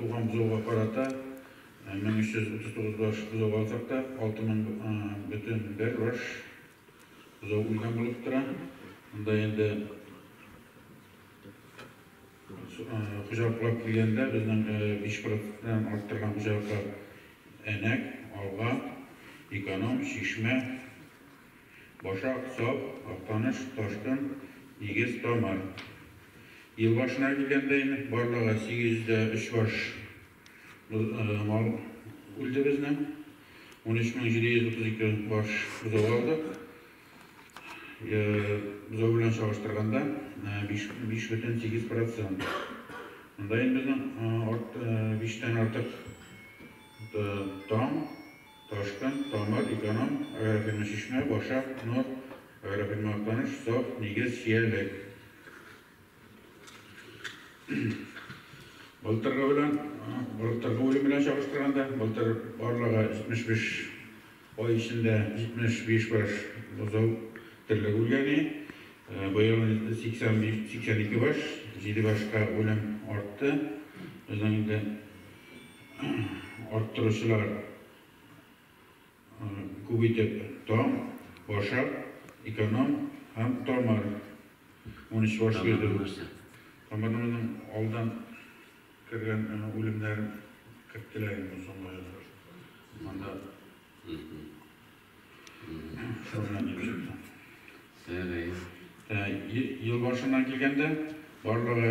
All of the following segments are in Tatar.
Туган бозауга карата 1339 баш бозау алсак та, 6000,1 баш бозау үлгән булып тора. Монда инде хуҗалыклап килгәндә безнең 5 проценттан арттырган хуҗалыклар Әнәк, Алга, Эконом, Чишмә, Башак, сап, Актаныш, Ташкын, Нигез, Тамар. Ел башына килгәндә инде барлыгы 803 баш мал үлде безнең. 13732 баш бозау алдык. Бозау белән чагыштырганда 5,8 процент. Монда инде безнең 5 тән артык таң. Ташкент, Тамыр, Эконом, Аэрофирмачишмә, Башак, Нур, Аэрофирмаактаныш, Саф, Нигез, Чиялек. Былтыргы белән, былтыргы үлем белән чагыштырганда, былтыр барлыгы 75 ай эчендә 75 баш бозау терлек үлгәни, быел 85, 82 баш, 7 башка үлем артты. Безнең инде Арттыручылар күп итеп таң, башак, эконом һәм тамыр. Унөч баш йөрде. Тамырның алдан кергән үлемнәр керттеләр инде бу соңгы айлар. Анда шуны дип чыкты. Ел башыннан килгәндә барлыгы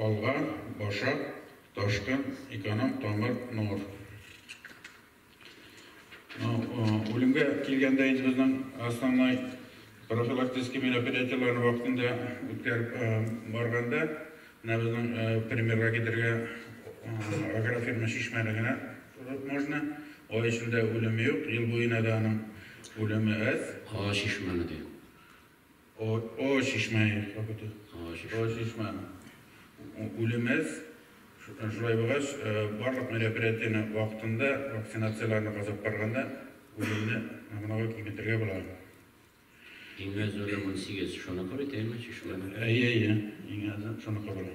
Алга, баша, ташкын, эконом, тамыр, нур. Үлемгә килгәндә инде безнең основной профилактический мероприятиеләрне вакытында үткәреп барганда, менә безнең примерга китерергә агрофирма Чишмәне генә торып можно. Ай эчендә үлем юк, ел буена да аның үлеме әз. Ага Чишмәне дә. О, о чишмә вакыты. О чишмә. О чишмә. Үлемез шулай булгач, барлык мероприятиене вакытында, вакцинацияләрне казып барганда үлемне гомумән киметергә була. Иң әзер 18 шуныкы бит, әйме, чишмә. Әйе, әйе. Иң әзер шуныкы була.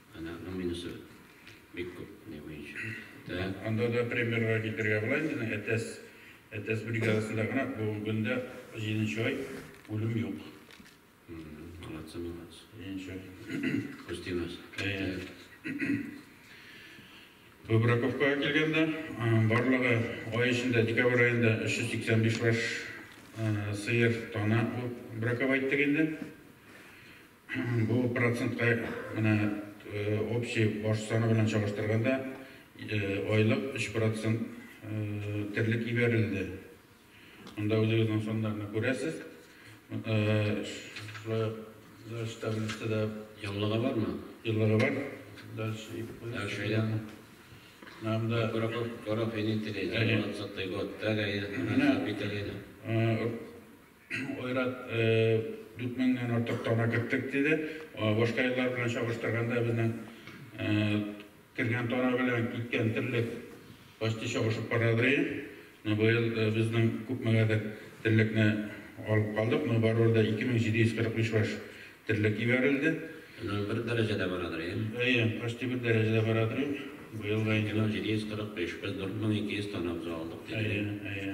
Әнә аның минусы бик күп, ни буенча. Тә. Анда да примерга китергә була инде, әнә Әтәс, Әтәс бригадасында гына бүгенге көндә җиденче ай үлем юк. Молодцы, молодцы. Җиденче ай. Күзтимәс. Әйе. Выбраковкага килгәндә, барлыгы ай эчендә, декабрь аенда 385 баш сыер, тана браковать иттек инде. Бу процентка менә общий баш саны белән чагыштырганда айлык 3 процент терлек ибәрелде. Монда үзегезнең саннарны күрәсез. Шулай ук дальше таблицада Еллыгы бармы? Еллыгы бар. Дальше итеп куйгыз. Дальше әйлән. Менә монда Гореф-инитили, 26 год, тәгаен, хәзер бит тәгаен. Айрат, дүрт меңнән артык тана керттек, диде. Башка еллар белән чагыштырганда, безнең кергән тана белән киткән терлек почти чагышып бара ди. Менә быел безнең күпмегәдер терлекне алып калдык, но барыбер дә 2745 баш терлек җибәрелде. Менә бер дәрәҗәдә бара ди. Әйе, почти бер дәрәҗәдә бара ди. Быел да инде. 2745, без 4200 тана уза алдык, диде. Әйе, әйе.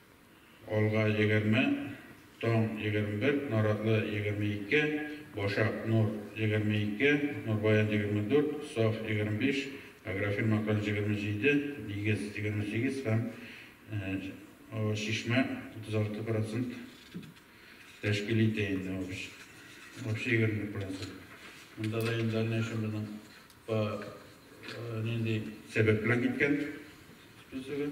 Алга, егерме, Таң, егерме бер, Наратлы, егерме ике, Башак, Нур, егерме ике, Нурбаян, егерме дүрт, Саф, егерме биш, Агрофирма Актаныш, егерме җиде, Нигез, егерме сигез һәм Чишмә, утыз алты процент тәшкил итә инде. Общий егерме бер процент. Монда да инде дальнейшем безнең по нинди сәбәп белән киткән списогы.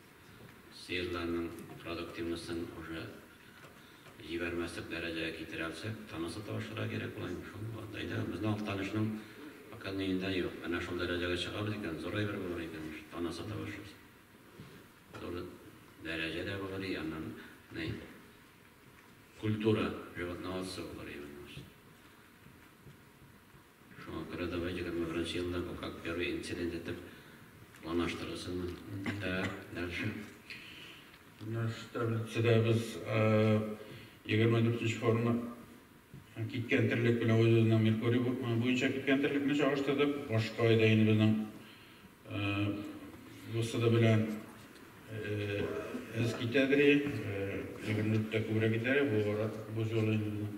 Сыерларның продуктивностен уже җибәрмәслек дәрәҗәгә китерә алсак, тынысы табышырга кирәк була инде шул вакыт. Безнең Актанышның показные да юк. Менә шул дәрәҗәгә чыгабыз икән, зур әйбер булыр икән ич, тынысы табышырсың. Зур дәрәҗә дә булыр и аннан ни культура животноводство булыр именно ич. Шуңа күрә давай егерме беренче елда бу как первый инцидент итеп планлаштырылсын. Так, дальше. Наш таблицадагыз егерме дүртенче форма киткән терлек белән үз-үзенең Меркурий буенча киткән терлекне чагыштырдык. Башка айда инде безнең ВСД белән эз китәдер, егерме дүрттә күбрәк китәр, бу юлы инде безнең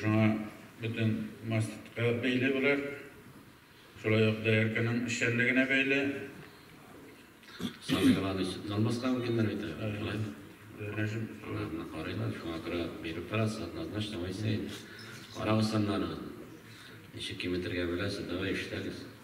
Шуңа бөтен мастка бәйле болар. Шулай ук доярканың эшчәнлегенә бәйле. Сабый баланы җанбаска мөмкиннәр бит әле. Шулай. Нәҗим. Аларны карыйлар, шуңа күрә биреп торасы, однозначно Моисей. Карагыз саннарыгызны. Ничек киметергә беләсез, давай эшләгез.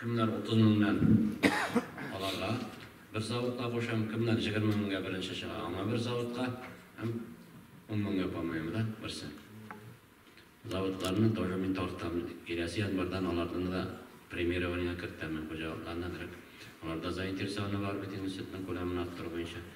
Кемнәр 30 меңнән аларга бер заводка кушам, кемнәр 20 меңгә беренче чыга, аңа бер заводка һәм 10 меңгә памоем, да, берсе. Заводларны тоже мин тартам. Киләсе январьдан аларны да премирование кертәмен, хуҗалыкларны, аларда заинтересованы бар бит инде сөтнең күләмен арттыру буенча.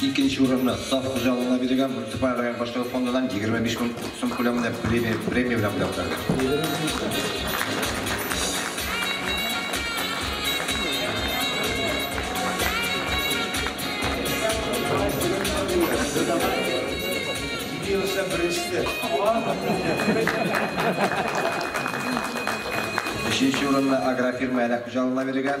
Икенче урынны Саф хуҗалыгына бирелгән муниципаль район башлыгы фондыннан егерме биш мең сум күләмендә премия белән бүләкләделәр. Өченче урынны Агрофирма Әләк хуҗалыгына бирелгән.